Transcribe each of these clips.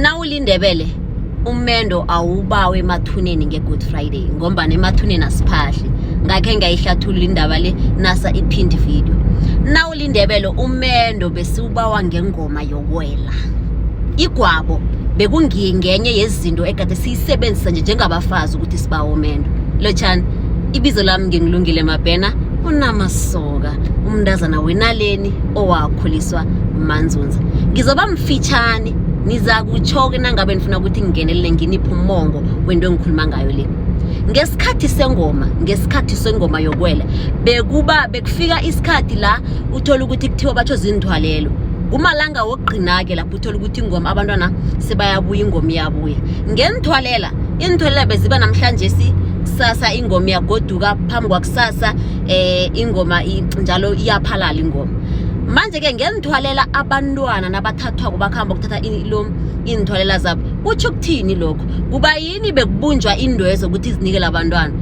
nawulindebele umendo awubawe emathuneni nge-good friday ngombana emathuneni asiphahli ngakhe ngayihlathulula indaba le nasa ipind video nawulindebele umendo besiwubawa ngengoma yokwela igwabo bekungiye ngenye yezinto ekade siyisebenzisa nje njengabafazi ukuthi sibawa umendo lotshani ibizo lami ngingilungile mabhena unamasoka umntazana wenaleni owakhuliswa manzunza ngizoba mfitshane nizakutsho-ke nangabe nifuna ukuthi ngingenelele nginiphe umongo wento engikhuluma ngayo le ngesikhathi sengoma ngesikhathi sengoma yokwela bekuba bekufika isikhathi la uthola ukuthi kuthiwa batsho zindhwalelo kumalanga wokugcina-ke lapho uthola ukuthi ingoma abantwana sebayabuya ingoma iyabuya ngenithwalela iinthwalela beziba namhlanje si kusasa ingoma yagoduka phambi kwakusasa eh ingoma njalo iyaphalala ingoma manje-ke ngenzithwalela abantwana nabathathwako bakuhamba ukuthatha lo iinthwalela zabo kutsho ukuthini lokho kuba yini bekubunjwa indwezo ukuthi zinikele abantwana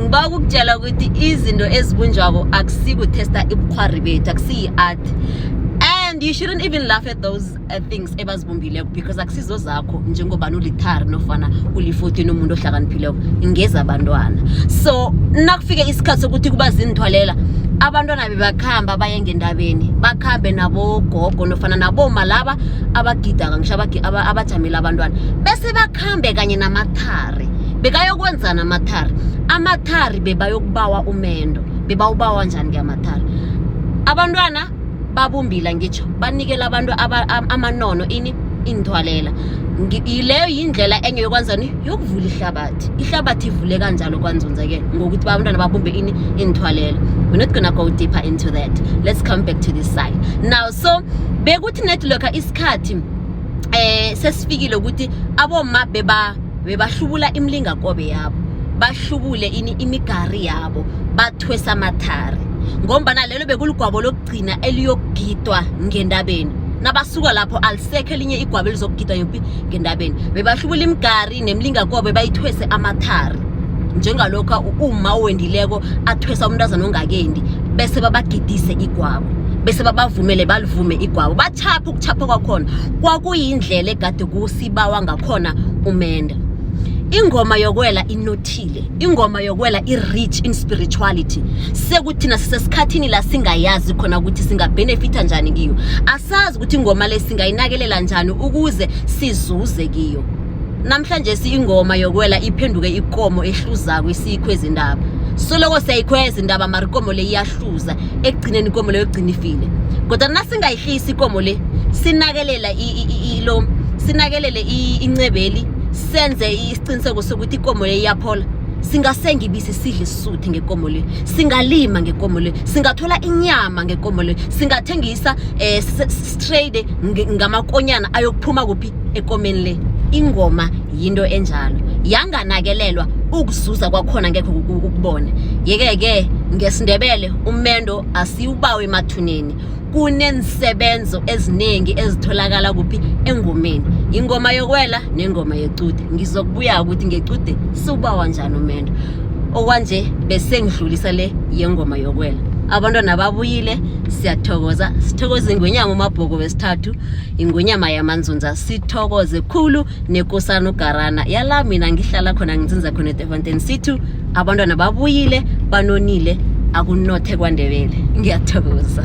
ngiba ukukutshela ukuthi izinto ezibunjwako akusikuthesta ibukhwari bethu akusiyi-art and you shouldn't even laugh at those Uh, things ebazibumbile because akusizo zakho njengobani ulithari nofana ulifuthi nomuntu ohlakaniphileko ngeza abantwana so nakufike isikhathi sokuthi kuba zinithwalela abantwana bebakuhamba baye ngendabeni bakuhambe nabogogo nofana naboma laba abagidaka ngisho abajamile abantwana bese bakuhambe kanye namathari bekayokwenzana amathari amathari bebayokubawa umendo bebawubawa njani-ke amathari abantwana babumbila ngitsho banikela abantu amanono ini inithwalela yileyo yindlela enye yokwenzani yokuvula ihlabathi ihlabathi ivule kanjalo kwanzunzeke ngokuthi abantwana babumbe ini inithwalela we're not gonna go deeper into that let's come back to this side now so bekuthi net lokha isikhathi eh sesifikile ukuthi aboma beba bebahlubula imilingakobe yabo bahlubule ini imigari yabo bathwesa amathari ngombana lelo bekuligwabo lokugcina eliyokugidwa ngendabeni nabasuka lapho alisekho elinye igwabo elizokugidwa yophi ngendabeni bebahlubula imigari nemilingakobe bayithwese amathari njengalokhu uma owendileko athwesa umntazana ongakendi bese babagidise igwabo bese babavumele balivume igwabo bachapha ukuchapha kwakhona kwakuyindlela egade ibawa ngakhona umenda ingoma yokwela inothile ingoma yokwela i-rich in spirituality sekuthina sisesikhathini la singayazi khona ukuthi singabhenefitha njani kiyo asazi ukuthi ingoma le singayinakelela njani ukuze sizuze kiyo namhlanje siyingoma yokwela iphenduke ikomo ehluzako isikho ezindaba soloko siyayikhweza indaba mara ikomo le iyahluza ekugcineni ikomo leyo egcina ifile kodwa nasingayihlisi ikomo le sinakelela lo sinakelele incebeli senze isiqiniseko sokuthi ikomo le iyaphola singasenga ibisi sidle isisuthe ngekomo le singalima ngekomo le singathola inyama ngekomo le singathengisa eh strade ngamakonyana ayokuphuma kuphi ekomeni le ingoma yinto enjalo yanganakelelwa ukuzuza kwakhona ngekho ukubona yeke ke ngesindebele umendo asiwubawe emathuneni kuneensebenzo eziningi ezitholakala kuphi engomeni ingoma yokwela nengoma yecude ngizokubuya ukuthi ngecude siwubawa njani umendo okwanje besengidlulisa le yengoma yokwela abantwana babuyile siyathokoza sithokoze ingwenyama umabhoko wesithathu ingwenyama yamanzunza sithokoze khulu nekosana ugarana yala mina ngihlala khona nginzinza khona edefontein sithu abantwana babuyile banonile akunothe kwandebele ngiyathokoza